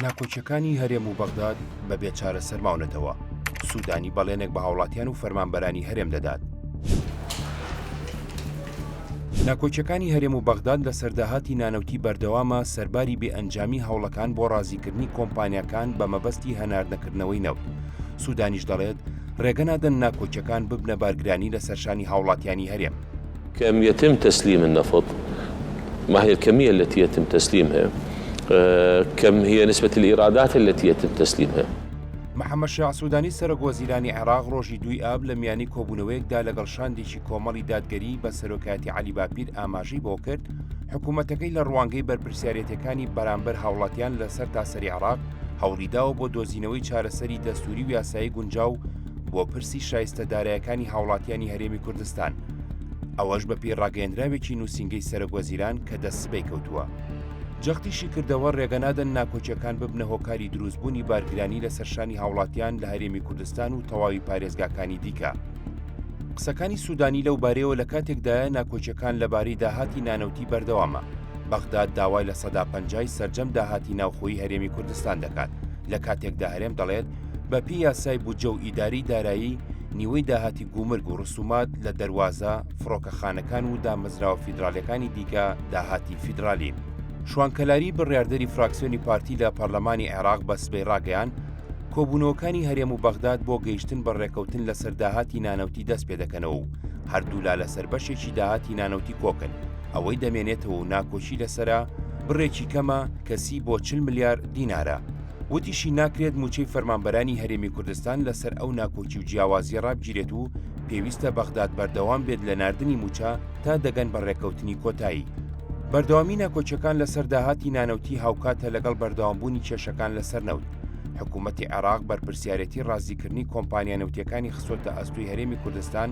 ناکۆکیەکانی هەرێم و بەغداد بە بێ چارەسەر ماونەتەوە، سودانی بەڵێنێک بە هاوڵاتیان و فەرمانبەرانی هەرێم دەدات. ناکۆکیەکانی هەرێم و بەغداد لەسەر داهاتی نانەوتی بەردەوامە سەرباری بێ ئەنجامی هەوڵەکان بۆ ڕازیکردنی کۆمپانیاکان بە مەبەستی هەناردەکردنەوەی نەوت، سودانیش دەڵێت، ڕێگە نادەن ناکۆکیەکان ببنە بارگرانی لەسەرشانی هاوڵاتیانی هەرێم. کم یتم تسلیم النفط ماهی الکمیە التی یتم تسلیمها کم هی نسبت الایرادات التی یتم تسلیمها. محەممەد شیاع سوودانی سەرۆک وەزیرانی عێراق ڕۆژی دووی ئاب لە میانی کۆبوونەوەیەکدا لەگەڵ شاندێکی کۆمەڵی دادگەریی بە سەرۆکایەتی عەلی باپیر ئاماژەی بەوە کرد، حکوومەتەکەی لە ڕوانگەی بەرپرسیارێتییەکانی بەرامبەر هاوڵاتیان لە سەرتاسەری عێراق هەوڵی داوە بۆ دۆزینەوەی چارەسەری دەستووری و یاسایی گونجاو بۆ پرسی شایستە دارایەکانی هاوڵاتیانی هەرێمی کوردستان. ئەوەش بەپێی ڕاگەیەندراوێکی نووسینگەی سەرۆک وەزیران کە دە سبەی کەوتووە. جەختیشی کردەوە ڕێگە نادەن ناکۆکیەکان ببنە هۆکاری دروستبوونی بارگرانی لەسەر شانی هاوڵاتیان لە هەرێمی کوردستان و تەواوی پارێزگاکانی دیکە. قسەکانی سوودانی لەو بارەیەوە لە کاتێکدایە ناکۆکیەکان لەبارەی داهاتی نانەوتی بەردەوامە، بەغداد داوای لە سەدا پەنجای سەرجەم داهاتی ناوخۆیی هەرێمی کوردستان دەکات، لە کاتێکدا هەرێم دەڵێت، بەپێی یاسای بودجە و ئیدارەی دارایی، نیوەی داهاتی گومرگ و ڕسومات لە دەروازە، فڕۆکەخانەکان و دامەزراوە فیدراڵیەکانی دیکە داهاتی فیدراڵین. شوان کەلاری بڕیاردەری فراکسیۆنی پارتی لە پەرلەمانی عێراق بە سبەی ڕاگەیاند، کۆبوونەوەکانی هەرێم و بەغداد بۆ گەیشتن بە ڕێکەوتن لەسەر داهاتی نانەوتی دەست پێدەکەنەوە و هەردوولا لەسەر بەشێکی داهاتی نانەوتی کۆکن، ئەوەی دەمێنێتەوە و ناکۆکی لەسەرە بڕێکی کەمە کەسی بۆ چل ملیار دینارە. وتیشی ناکرێت مووچەی فەرمانبەرانی هەرێمی کوردستان لەسەر ئەو ناکۆکی و جیاوازیە ڕابگیرێت و پێویستە بەغداد بەردەوام بێت لە ناردنی مووچە تا دەگەن بە ڕێککەوتنی کۆتایی. بەردەوامی ناکۆچەکان لەسەر داهاتی نانەوتی هاوکاتە لەگەڵ بەردەوامبوونی کێشەکان لەسەر نەوت، حکوومەتی عێراق بەرپرسیارێتی ڕازیکردنی کۆمپانیا نەوتییەکانی خستۆتە ئەستۆی هەرێمی کوردستان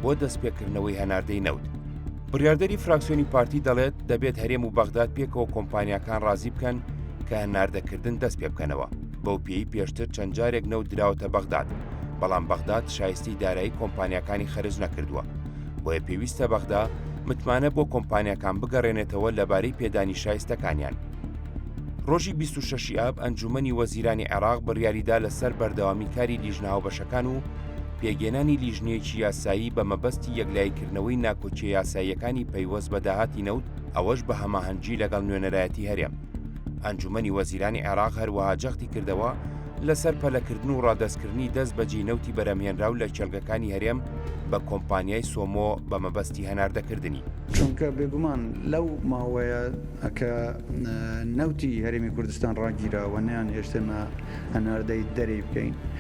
بۆ دەستپێکردنەوەی هەناردەی نەوت. بڕیاردەری فراکسیۆنی پارتی دەڵێت دەبێت هەرێم و بەغداد پێکەوە کۆمپانیاکان ڕازی بکەن کە هەناردەکردن دەست پێ بکەنەوە بەو پێی پێشتر چەند جارێک نەوت دراوەتە بەغداد بەڵام بەغداد شایستی دارایی کۆمپانیاکانی خەرج نەکردووە بۆیە پێویستە بەغدا متمانە بۆ کۆمپانیاکان بگەڕێنێتەوە لەبارەی پێدانی شایستەکانیان. ڕۆژی 26 ئاب ئەنجومنی وەزیرانی عێراق بڕیاریدا لەسەر بەردەوامی کاری لیژنە هاوبەشەکان و پێکهێنانی لیژنەیەکی یاسایی بە مەبەستی یەکلاییکردنەوەی ناکۆکیە یاساییەکانی پەیوەست بە داهاتی نەوت ئەوەش بە هەماهەنگی لەگەڵ نوێنەرایەتی هەرێم. ئەنجومەنی وەزیرانی عێراق هەروەها جەختی کردەوە لەسەر پەلەکردن و ڕادەستکردنی دەست بەجێی نەوتی بەرهەمهێنراو لە کێڵگەکانی هەرێم بە کۆمپانیای سۆمۆ بە مەبەستی هەناردەکردنی. چونکە بێگومان لەو ماوەیە کە نەوتی هەرێمی کوردستان ڕاگیرا و نەیانهێشتێمە هەناردەی دەرێی بکەین،